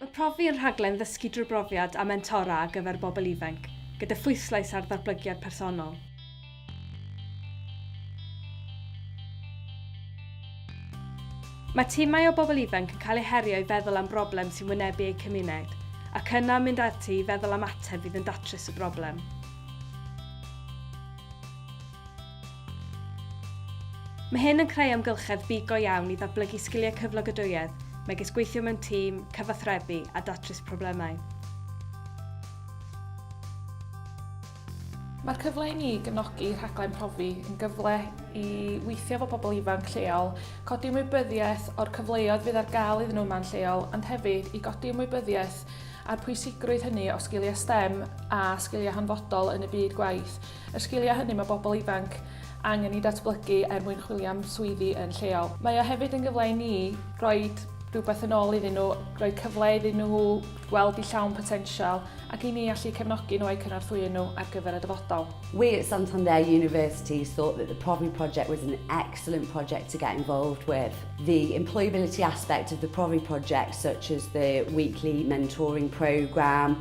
Mae Profi yn rhaglen ddysgu drwy brofiad a mentora ar gyfer bobl ifainc, gyda phwyslais ar ddatblygiad personol. Mae timau o bobl ifainc yn cael eu herio i feddwl am broblem sy'n wynebu eu cymuned, ac yna mynd ati i feddwl am ateb fydd yn datrys y broblem. Mae hyn yn creu amgylchedd byd go iawn i ddatblygu sgiliau cyflogadwyedd, megis gweithio mewn tîm, cyfathrebu a datrys problemau. Mae'r cyfle i ni gefnogi rhaglen Profi yn gyfle i weithio efo pobl ifanc lleol, codi ymwybyddiaeth o'r cyfleoedd fydd ar gael iddyn nhw yma'n lleol, ond hefyd i godi ymwybyddiaeth a'r pwysigrwydd hynny o sgiliau STEM a sgiliau hanfodol yn y byd gwaith. Y sgiliau hynny mae pobl ifanc angen i datblygu er mwyn chwilio am swyddi yn lleol. Mae o hefyd yn gyfle i ni roi rhywbeth yn ôl iddyn nhw, rhoi cyfle iddyn nhw gweld i llawn potensial ac i ni allu cefnogi nhw a'u cynorthwyo nhw ar gyfer y dyfodol. We at Santander University thought that the Profi project was an excellent project to get involved with. The employability aspect of the Profi project, such as the weekly mentoring programme,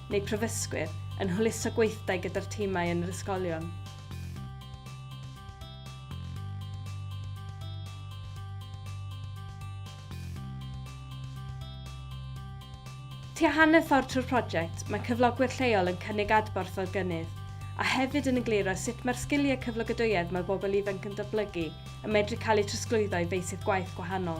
neu prifysgwyr yn hwyluso gweithdai gyda'r timau yn yr ysgolion. Tua hanner ffordd trwy'r prosiect, mae cyflogwyr lleol yn cynnig adborth o'r gynnydd, a hefyd yn egluro sut mae'r sgiliau cyflogadwyedd mae bobl ifanc yn datblygu yn medru cael eu trosglwyddo i feysydd gwaith gwahanol.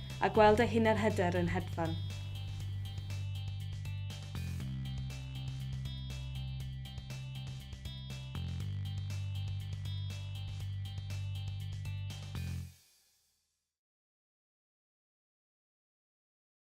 a gweld ei hunanhyder yn hedfan.